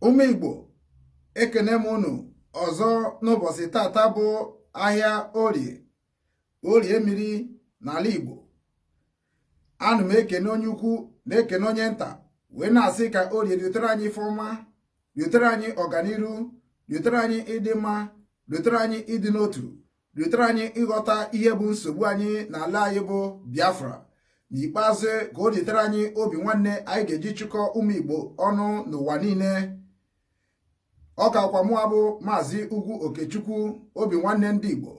ụmụ Igbo ekene m unu ọzọ n'ụbọchị tata bụ ahịa orie orie mmiri n'ala Igbo ana m ekene onye ukwu na-ekene onye nta wee na-asị ka orie riotere anyị ife ọma riotere anyị ọganiru riotere anyị ịdị mma riotere anyị ịdị n'otu riotere anyị ịghọta ihe bụ nsogbu anyị n'ala anyị bụ biafra n'ikpeazụ ka o riotere anyị obi nwanne anyị ga-eji chịkọ ụmụ igbo ọnụ n'ụwa niile ọ kakwa mụwa bụ maazị ugwu okechukwu obi nwanne ndị igbo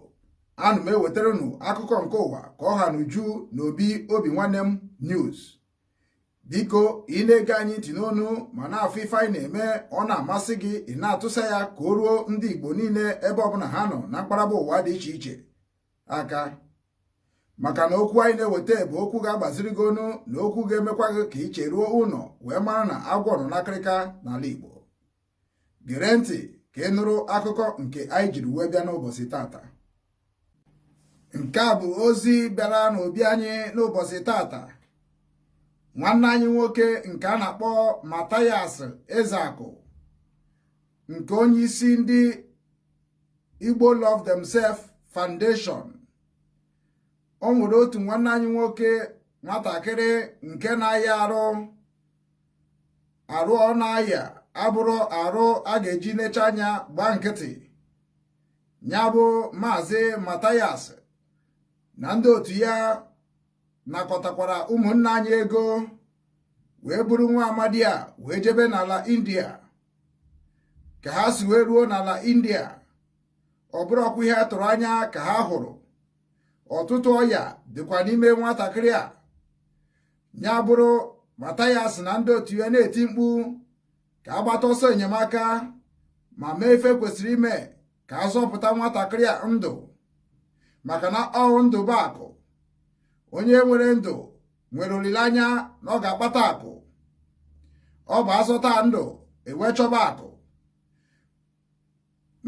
ana m ewetara unu akụkọ nke ụwa ka ọ ha n'uju na obi obi nwanne m news biko ị na-ege anyị ntị n'onu ma na-afụ ife anyị na-eme ọ na-amasị gị ị na-atụsa ya ka o ruo ndị igbo niile ebe ọbụla ha nọ na mpaghara ụwa dị iche iche aka maka na okwu anyị na-eweta bụ okwu ga-agbaziri gị ọnụ na okwu ga-emekwa gị ka i cheruo ụnọ wee mara na agwọ nọ n'akịrịka n'ala Igbo gere ntị ka ị nụrụ akụkọ nke anyị jiri wee bịa n'ụbọchị tata nke a bụ ozi bịara n'obi anyị n'ụbọchị tata nwanne anyị nwoke nke a na-akpọ Mathias Ezeaku nke onye isi ndị Igbo Love Themselves Foundation o nwere otu nwanne anyị nwoke nwatakịrị nke na-aya arụ arụ ọ na-aya abụrọ arụ a ga-eji necha anya gbaa nkịtị ya bụ maazị Mathias na ndị otu ya nakọtakwara ụmụnna anyị ego wee buru nwa amadi a wee jebe n'ala India ka ha si wee ruo n'ala india ọ bụrọkwa ihe a tụrụ anya ka ha hụrụ ọtụtụ ọya dịkwa n'ime nwatakịrị a ya bụrụ Mathias na ndị otu ya na-eti mkpu ka a gbata ọsọ enyemaka ma mee ife kwesịrị ime ka a zọpụta nwatakịrị a ndụ maka na ọ bụ ndụ bụ akụ onye nwere ndụ nwere olileanya na ọ ga-akpata akụ ọ bụ a zọta ndụ e wee chọba akụ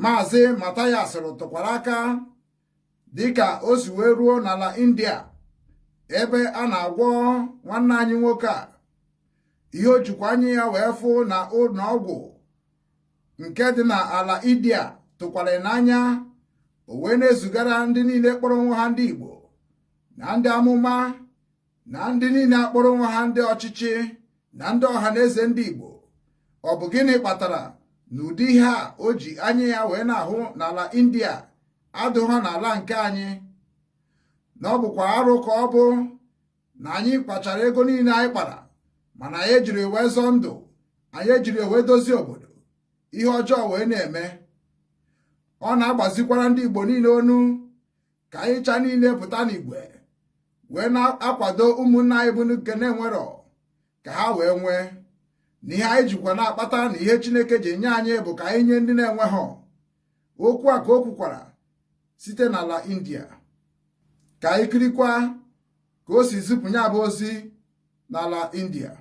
maazị Mathias rụtụkwara aka dịka o si wee ruo n'ala india ebe a na-agwọ nwanne anyị nwoke a ihe o jikwa anya ya wee fụ na ụnọ ọgwụ nke dị n'ala india tụkwara n'anya o wee na-ezigara ndị niile kpọrọ onwe ha ndị igbo na ndị amụma na ndị niile akpọrọ onwe ha ndị ọchịchị na ndị ọha na eze ndị Igbo ọ bụ gịnị kpatara na ụdị ihe a o ji anya ya wee na-ahụ n'ala India adịghọ n'ala nke anyị na ọ bụkwa arụ ka ọ bụ na anyị kpachara ego niile anyị kpara mana anyị ejiri wee zọọ ndụ anyị ejiri wee dozie obodo ihe ọjọọ wee na-eme ọ na-agbazikwara ndị Igbo niile onu ka anyị cha niile pụta n'igwe wee na-akwado ụmụnna anyị bụ nke na-enwerọ ka ha wee nwee na ihe anyị jikwa na-akpata na ihe Chineke ji nye anyị bụ ka anyị nye ndị na-enweghọ okwu a ka o kwukwara site n'ala India ka anyị kirikwa ka o si zipụ ya bụ ozi n'ala India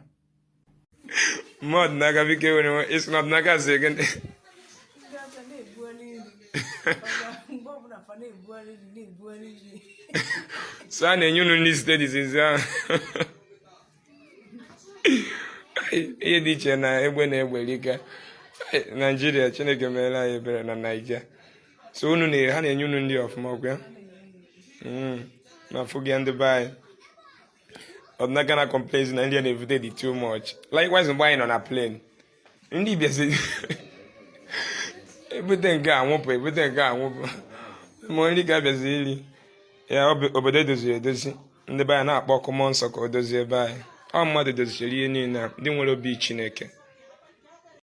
mmadụ n'aka biko enwere nwe ịsị na n'aka si ege ndị so a na-enye unu nri site dizizi ahụ ihe dị iche na egbe na egbe rika naijiria chineke meere anyị ebere na naija so unu na ha na-enye unu nri ọfụma ọkwa ya na afụgị ndị be anyị ọdịna gana complain na nri a na-evute dị too much likewise mgbe anyị nọ na plane nri bịazi ebute nke a awụpụ ebute nke a awụpụ ma nri ka abịazi iri ya obodo edoziri edozi ndị be anyị na-akpọ ọkụ mmụọ nsọ ka o dozie be anyị ọ mmadụ dozichere ihe niile ndị nwere obi chineke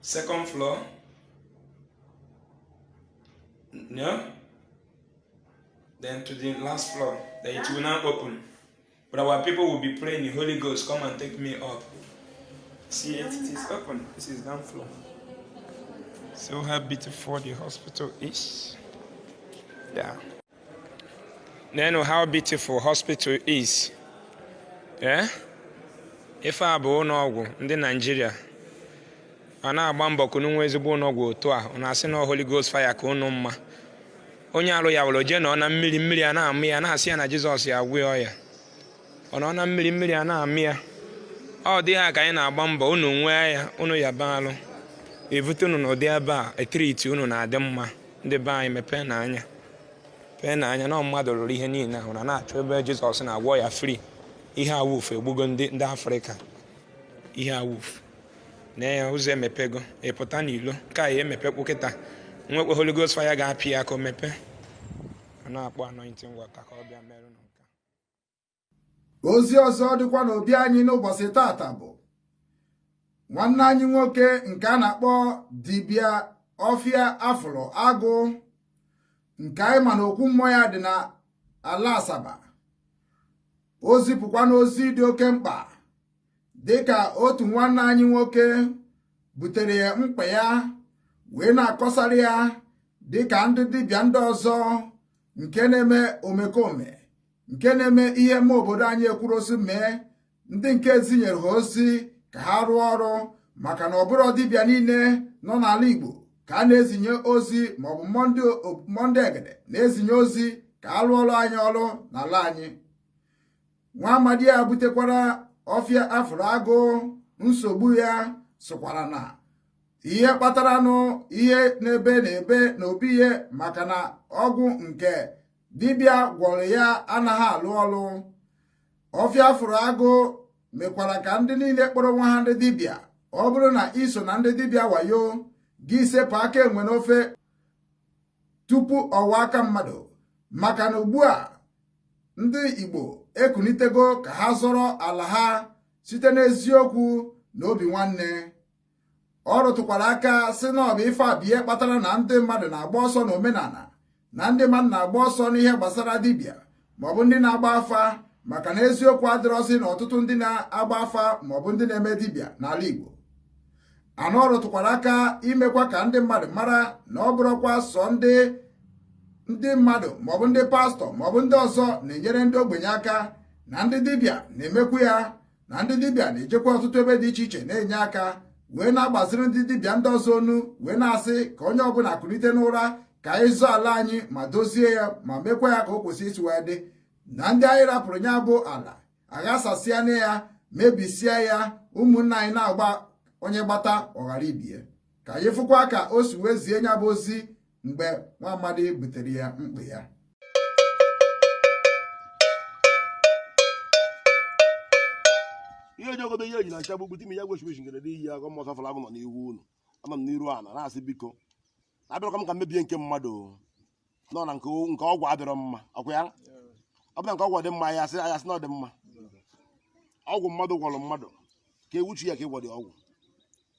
second floor yeah then to the last floor then it will now open but our people will be praying the holy ghost come and take me up see it it is open this is down floor so how beautiful the hospital is yeah neenụ how beautiful hospital is eh? ife a bụ ụlọọgwụ ndị naijiria a na-agba mbọ ka unu nwee ezigbo ụlọọgwụ otu a unu asị na Holy Ghost fire ka unu mma onye arụ ya were jee nọ na mmiri mmiri a na-amụ ya na-asị ya na Jizọs ya agwọ ya ọ nọ na mmiri mmiri a na-amụ ya ụdị a ka anyị na-agba mbọ unu nwee ya unu yaba arụ evute unu n'ụdị ebe a e treat unu na-adị mma ndị be anyị mepeenụ anya mepeenụ anya na mmadụ rụrụ ihe niile ahụ unu na-achọ ebe jizọs na-agwọ ya free ihe awoof egbugo ndị afrịka ihe awoof na ya ụzọ emepego ịpụta n'ilo ka ya emepekwu kịta nwekwe Holy Ghost fire ga-apị ya ka o mepee a na-akpọ anointing water ka ọ bịa merụ ozi ọzọ dịkwa n'obi anyị n'ụbọchị taata bụ nwanne anyị nwoke nke a na-akpọ dibịa ọfịa afụlụ agụ nke anyị ma na okwu mmụọ ya dị na ala asaba o zipụkwana ozi dị oke mkpa dịka otu nwanne anyị nwoke butere ya mkpa ya wee na-akọsara ya dịka ndị dibịa ndị ọzọ nke na-eme omekome nke na-eme ihe mma obodo anyị ekwurọ sị mee ndị nke e zinyere ha ozi ka ha rụọ ọrụ maka na ọ bụrọ dibịa niile nọ n'ala Igbo ka a na-ezinye ozi maọbụ mmụọ ndị egede na-ezinye ozi ka a rụọ ọrụ anyị ọrụ n'ala anyị nwa amadi a butekwara ọfịa afụrụ agụ nsogbu ya sokwara na ihe kpataranụ ihe n'ebe na-ebe na obi ihe maka na ọgwụ nke dibịa gwọrọ ya anaghị alụ ọlụ ọfịa afụrụ agụ mekwara ka ndị niile kpọrọ onwe ha ndị dibịa ọ bụrụ na i so na ndị dibịa wayo gị sepụ aka enwe n'ofe tupu ọ ghọọ aka mmadụ maka na ugbu a ndị Igbo ekunitego ka ha zọrọ ala ha site n'eziokwu na obi nwanne ọ rụtụkwara aka sị na ọ bụ ife a bụ ihe kpatara na ndị mmadụ na-agba ọsọ na omenala na ndị mmadụ na-agba ọsọ n'ihe gbasara dibịa maọbụ ndị na-agba afa maka na eziokwu adịrọzi na ọtụtụ ndị na-agba afa maọbụ ndị na-eme dibịa n'ala Igbo anọ ọ rụtụkwara aka imekwa ka ndị mmadụ mara na ọ bụrọkwa sọ ndị ndị mmadụ maọbụ ndị pastọ maọbụ ndị ọzọ na-enyere ndị ogbenye aka na ndị dibịa na-emekwu ya na ndị dibịa na-ejekwa ọtụtụ ebe dị iche iche na-enye aka wee na-agbaziri ndị dibịa ndị ọzọ onu wee na-asị ka onye ọbụla kulite n'ụra ka anyị zọọ ala anyị ma dozie ya ma mekwa ya ka o kwesị isi wee dị na ndị anyị rapụrụ ya bụ ala aghasasịana ya mebisia ya ụmụnna anyị na-agba onye gbata ọ ghara ibe ya ka anyị fụkwa ka o si wee zie nya bụ ozi mgbe nwa amadi butere ya mkpa ya ihe ojogodo ihe ejila ncha gbugbu ime ya gwechimechi ngere n'iyi agụ mmụọ safara agụ nọ n'ihu unu anọ m n'iru ala na-asị biko abịarọ m ka m mebie nke mmadụ nọ na nke ọgwụ adịrọ mma ọkwa ya ọ bụla nke ọgwụ dị mma ya asị ya asị na ọ dị mma ọgwụ mmadụ gwọrọ mmadụ ka ewuchi ya ka ị gwọ ụdị ọgwụ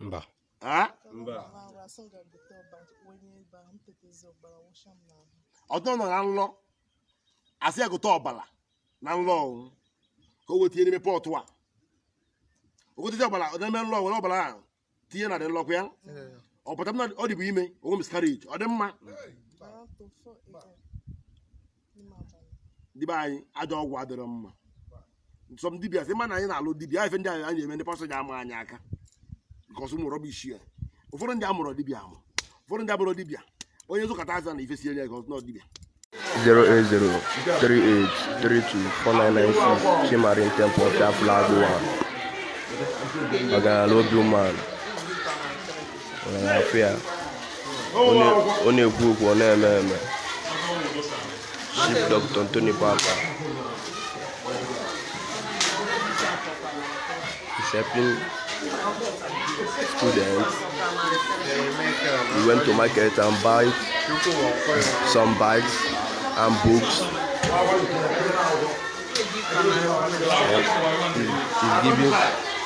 mba ọtọ nọ na nlọ asị ya gote ọbara na nlọ ọnwụ ka o wee tinye n'ime pọtụ a o gotecha ọbara n'ime nlọ were ọbara a tinye na dị nlọkwa ya ọ pụta na ọ dịbụ ime o nwee miscarriage ọ dị mma ndị be anyị ajọ ọgwụ adịrọ mma nsọ m dibịa sị mana anyị na-alụ dibịa ife ndị anyị na-eme ndị pastọ ji ama anyị aka nke ọsụ mụrụ bụ isi ya ụfọdụ ndị amụrụ dibịa amụ ụfọdụ ndị abụrọ dibịa onye zụkata afịa na ife siere ya ike ọsụ na dibịa 08038324996 Chimarin Temple Chapel Agbowa Ọgaranya Obi Umeala afụ ya ọ na-ekwu okwu ọ na-eme eme chief dr anthony papa is helping students we went to market and buy some bags and books he's giving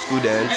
students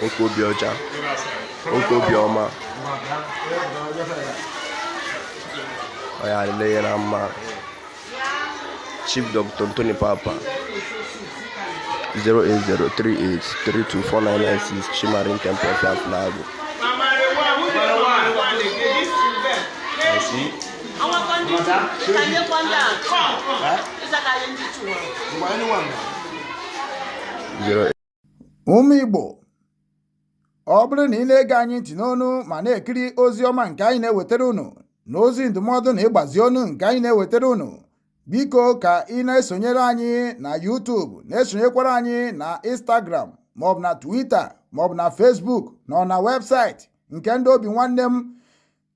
nwoke obi ọcha nwoke obi ọma ọ ya-adịlị ya na mma chief dr anthony papa 08038324996 chimarin temple of life lago zero ụmụ Igbo ọ bụrụ na ị na-ege anyị ntị n'onu ma na-ekiri ozi ọma nke anyị na-ewetara unu na ozi ndụmọdụ na ịgbazi ọnụ nke anyị na-ewetara unu biko ka ị na-esonyere anyị na YouTube na-esonyekwara anyị na Instagram maọbụ na Twitter maọbụ na Facebook na na webụsaịtị nke ndị Obinwannem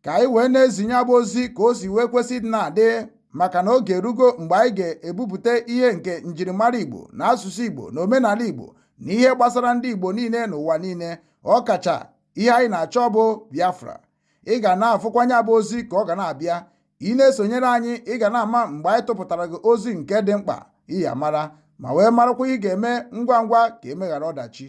ka anyị wee na-ezi nya bụ ozi ka o si wee kwesịrị na-adị maka na oge erugo mgbe anyị ga-ebupụta ihe nke njirimara Igbo na asụsụ Igbo na omenala Igbo na ihe gbasara ndị Igbo niile n'ụwa niile ọkacha ihe anyị na-achọ bụ Biafra ị ga na-afụkwa nya bụ ozi ka ọ ga na-abịa ị na-esonyere anyị ị ga na-ama mgbe anyị tụpụtara gị ozi nke dị mkpa ị ya-amara ma wee marakwa ihe ị ga-eme ngwa ngwa ka e mee ghara ọdachi